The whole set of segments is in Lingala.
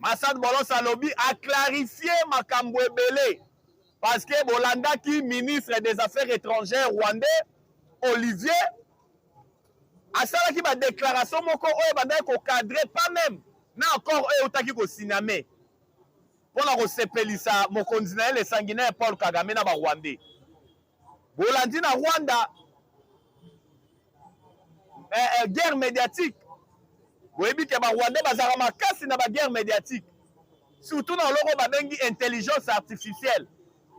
Masad Bolos alobi a clarifier makambo ebele parce que bolandaki ministre des affaires étrangères rwandais Olivier asalaki badéclaration moko oyo ebandaki kocadre pas même na accord oyo eutaki kosiname mpo na kosepelisa mokonzi na ye le sanguinaire paul kagame na barwandais bolandi na Rwanda eh, eh, guerre médiatique boyebi ke barwandais bazalaka makasi na baguerre médiatique surtout na oloko babengi intelligence artificielle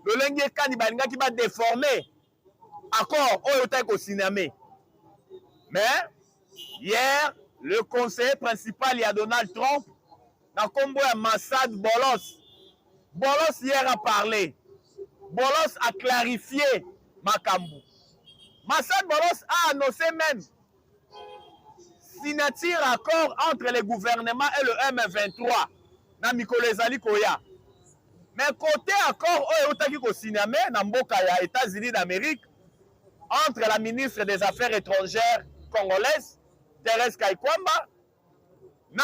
lolenge kani balingaki badeforme accord oyo otaki kosiname mais hier le conseiller principal ya donald trump na kombo ya Massad Bolos. Bolos hier a parler. Bolos a clarifier makambo. Massad Bolos a annoncé même signature accord entre le gouvernement et le M23 na mikolo ezali koya. Mais côté accord oyo eutaki kosigname na mboka ya États-Unis d'Amérique entre la ministre des Affaires étrangères congolaise Thérèse Kaikwamba na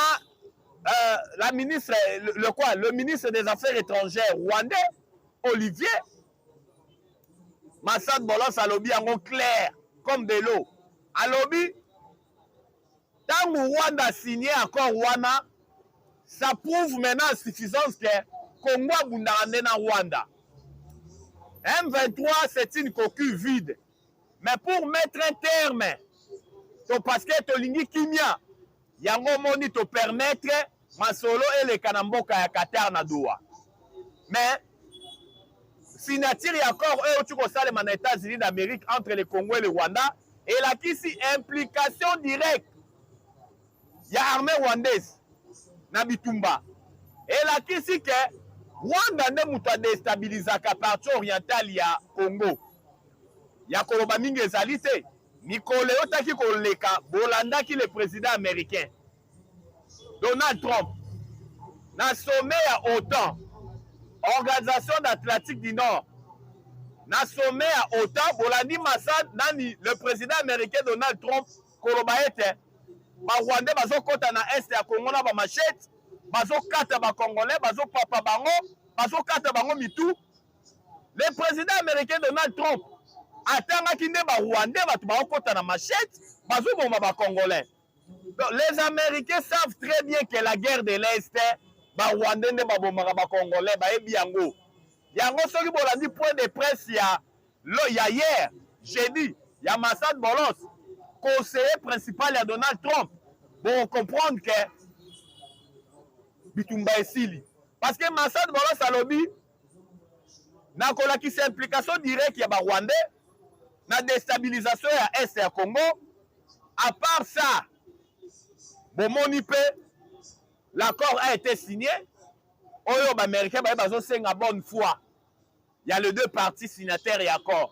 euh, la ministre le, le quoi le ministre des affaires étrangères rwandais Olivier Massad Bolos alobi yango clair comme de l'eau alobi ntango Rwanda signe accord wana ça prouve maintenant à suffisance que Congo abundaka nde na Rwanda M23 c'est une coquille vide mais pour mettre un terme to parce que tolingi kimia yango omoni to permettre masolo eleka na mboka ya Qatar na Doha mais signature ya accord oyo euti kosalema na États-Unis d'Amérique entre le Congo et le Rwanda elakisi implication directe ya armée rwandaise na bitumba elakisi ke Rwanda nde moto adestabilizaka partie orientale ya Congo ya koloba mingi ezali te mikolo eyotaki koleka bolandaki le président américain donald trump na sommet ya otan organisation d'atlantique du nord na sommet ya otan bolandi masad nani le président américain donald trump koloba ete barwandais bazokɔta na est ya congo na bamachete bazokata bacongolais bazopapa bango bazokata bango mitu le président américain donald trump atangaki nde barwandais bato baokota na machete bazoboma bacongolais donc les américains savent très bien que la guerre de l'est barwandais nde babomaka bacongolais bayebi yango yango soki bolandi point de presse ya lo ya hier jeudi ya masad bolos conseiller principal ya donald trump bocomprendre que bitumba esili parce que masad bolos alobi na kolakisa implication directe ya ba rwandais na destabilisation ya est ya congo à part ça bomoni mpe l'accord a été signé oyo baaméricain baye bazosenga bonne foi ya les deux parties signataires ya accord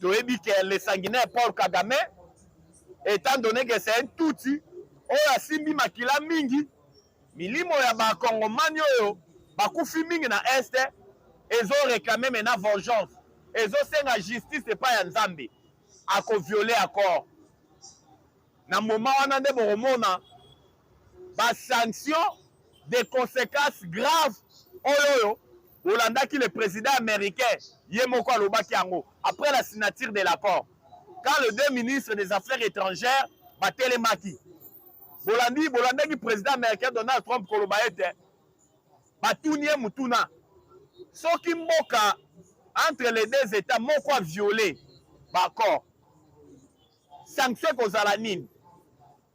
toyebi ke le sanguinaire paul kagame etant donné ke c'est un tutsi oyo asimbi makila mingi milimo ya bakongomani oyo bakufi mingi na est ezoreklame mena vengeance ezosenga justice epai ya nzambe akoviole accord na moma wana nde bokomona ba sanctions des consequences graves oyo oyo bolandaki le président américain ye moko alobaki yango après la signature de l'accord quand les deux ministres des affaires étrangères batelemaki bolandi bolandaki président américain donald trump koloba ete batuni ye motuna soki mboka entre les deux états moko aviole baaccord sanction ekozala nini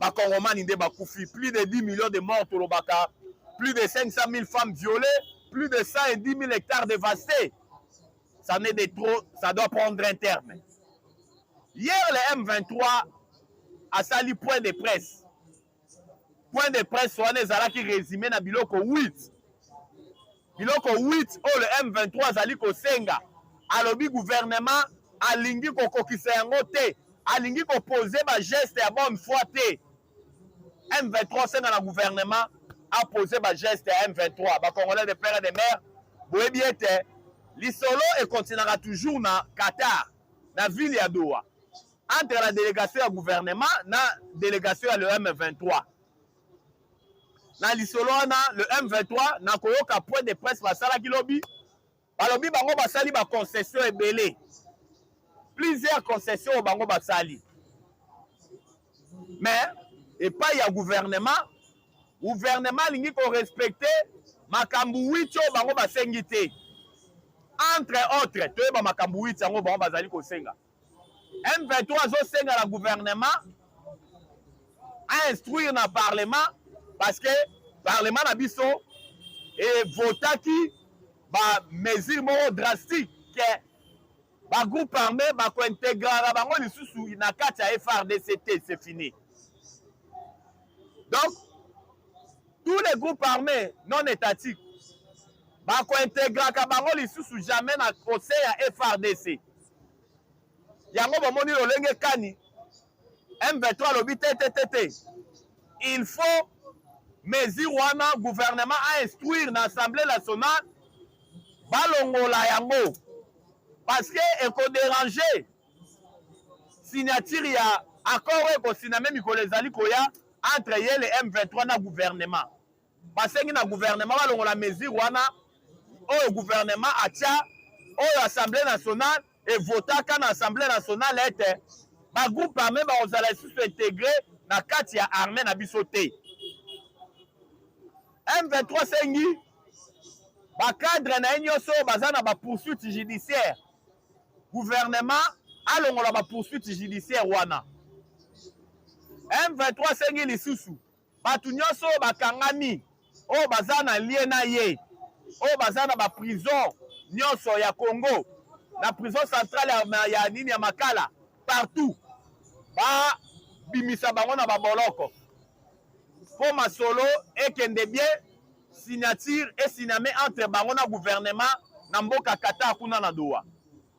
bakongomani nde bakufi plus de 10 millions de morts tolobaka plus de 500 000 femmes violées plus de 110 000 hectares dévastés ça n'est de trop ça doit prendre un terme hier le m23 asali point de presse point de presse wana ezalaki résumé na biloko 8 Biloko 8 oyo le M23 azali kosenga, alobi gouvernement alingi kokokisa yango te, alingi kopose bageste ya bonne foi te. M23 asenga na gouvernement apose bageste ya M23. Bacongolais de père et de mère boyebi ete lisolo ekontinaka toujours na Qatar, na ville ya Doha, entre la délégation ya gouvernement na délégation ya le M23. na lisolo wana le M23 na koyoka point de presse basalaki lobi balobi bango basali ba concession ebele plusieurs concession oyo bango basali mais epai ya gouvernement gouvernement alingi korespecte makambo 8 oyo bango basengi te entre autres toyeba makambo 8 yango bango bazali kosenga M23 azosenga na gouvernement a instruire na parlement parce que parlement na biso evotaki bamesure moko drastique ke bagroupe armé bakointegraka bango lisusu na kati ya frdc te c'est fini donc tous les groupes armés non étatiques bakointegraka bango lisusu jamais na conseil ya frdc yango bomoni lolenge kani M23 alobi te te te te il faut mesure wana gouvernement a instruire na assemblée nationale balongola yango parce que ekoderange signature ya accord oyo ekosiname mikolo ezali koya entre ye le M23 na gouvernement basengi na guvernema balongola mesure wana oyo guvernema atya oyo assemblée nationale evotaka na assemblée nationale ete bagroupe arme bakozala lisusu integre na kati ya arme na biso te m23 sengi bacadre na ye nyonso oyo baza na bapoursuite judiciaire guvernema alongola bapoursuite judiciaire wana m23 sengi lisusu bato nyonso oyo bakangami oyo baza na lie na ye oyo baza na baprison nyonso ya congo na prison centrale ya, ya nini ya makala partout babimisa bango na baboloko mpo masolo ekende bie signature esiname entre bango na gouvernement na mboka qatar kuna na doha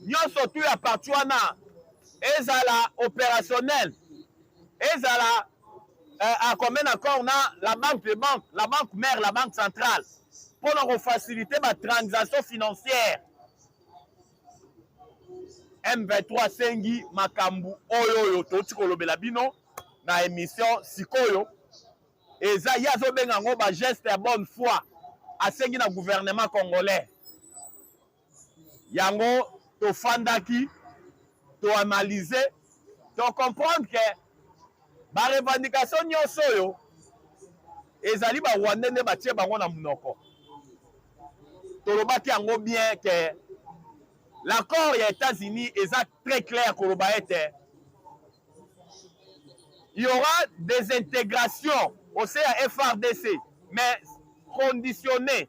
nyonso tu ya parti wana ezala opérationnel ezala euh, à commun accord na la banque de banque la banque mère la banque centrale mpo na kofacilite batransaction financière m23 asengi makambo oyo oyo touti kolobela bino na émission sikoyo eza ye azobenga yango bageste ya bonne foi asengi na gouvernement congolais yango tofandaki toanalyse tocomprendre ke barevendication nyonso oyo ezali barwande nde batie bango na monoko tolobaki yango bien ke l'accord ya états-unis eza très clair koloba ete il y aura des intégrations au sein ya frdc mais conditionné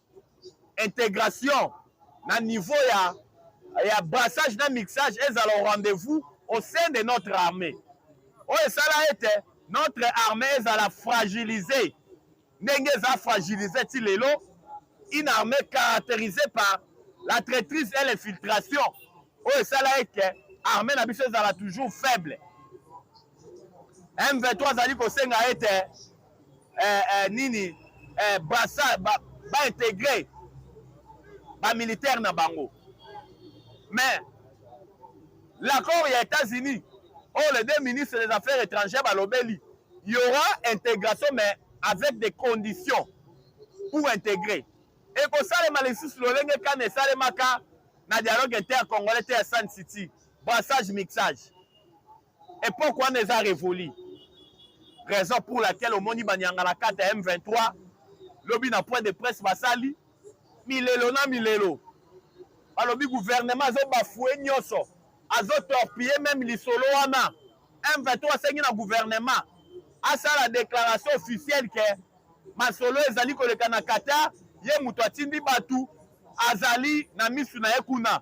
integration na niveau ya, ya brassage na mixage ezala au rendez-vous au sein de notre armée oyo esala ete notre armée ezala fragilise ndenge eza fragilise ti lelo une armée caractérisée par la traîtrise et l'infiltration oyo esala ete armée na biso ezala toujours faible m23 azali kosenga ete eh, eh, nini eh, brasa ba, ba integre ba militaire na bango mais l'accord ya États-Unis oyo oh, les deux ministres des affaires étrangères balobeli y aura intégration mais avec des conditions pour intégrer ekosalema lisusu lolenge kani esalemaka na dialogue intercongolais te ya Sun City brassage mixage epoque wana eza revoli raison pour laquelle omoni banyangalakata ya m23 lobi na point de presse basali milelo na milelo balobi gouvernement azobafue nyonso azotorpille meme lisolo wana m23 asengi na gouvernement asala déclaration officielle ke masolo ezali koleka na qatar ye moto atindi bato azali na misu na ye kuna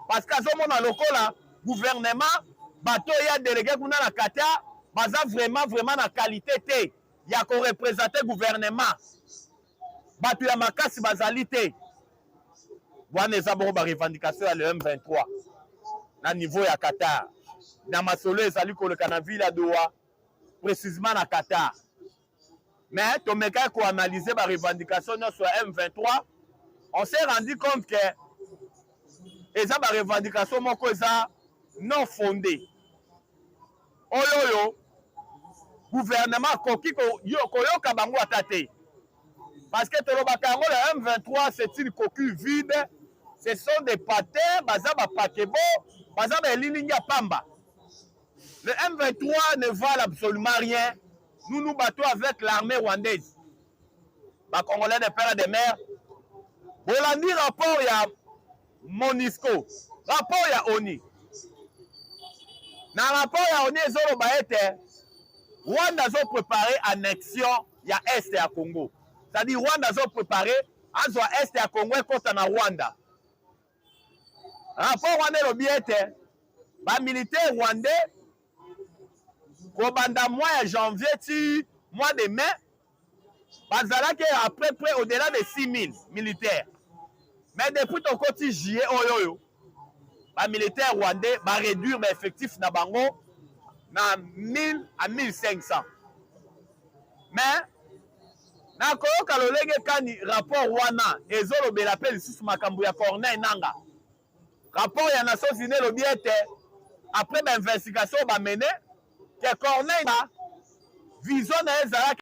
parce que azomona lokola gouvernement bato ya delege kuna na Qatar baza vraiment vraiment na qualité te ya korepresente gouvernement bato ya makasi bazali te wana eza bongo barevendication ya le m23 na niveau ya qatar na masolo ezali koleka na ville ya doha précisement na qatar mais tomekaki ko analyser ba revendication nyonso ya M23 on s'est rendu compte que eza ba revendication moko eza non fondée oyo oyo gouvernement akoki koyoka bango ata te parce que tolobaka yango la M23 c'est une coquille vide ce sont des patins baza ba pakebo baza ba elilingi ya pamba Le M23 ne valent absolument rien. Nous nous battons avec l'armée rwandaise. Ba Congolais de père et de mère. Bolandi rapport ya Monisco. Rapport ya ONI. Na rapport ya ONI ezoloba ete Rwanda azo prepare annexion ya est ya Congo. C'est-à-dire Rwanda azo prepare azwa est ya Congo ekota na Rwanda. Rapport wana elobi ete ba militaires rwandais kobanda mois ya janvier ti mois de mai bazalaki à peu près au-delà de 6000 militaires mais depuis tokoti juillet oyo oh, oyo ba militaires rwandais ba réduire ba effectifs na bango na 1000 à 1500 mais na koyoka lolenge kani rapport wana ezolobela mpe lisusu makambo ya corneille nanga rapport ya nations unie elobi ete après bainvestigation oyo bamene ke corneille vision na ye ezalaki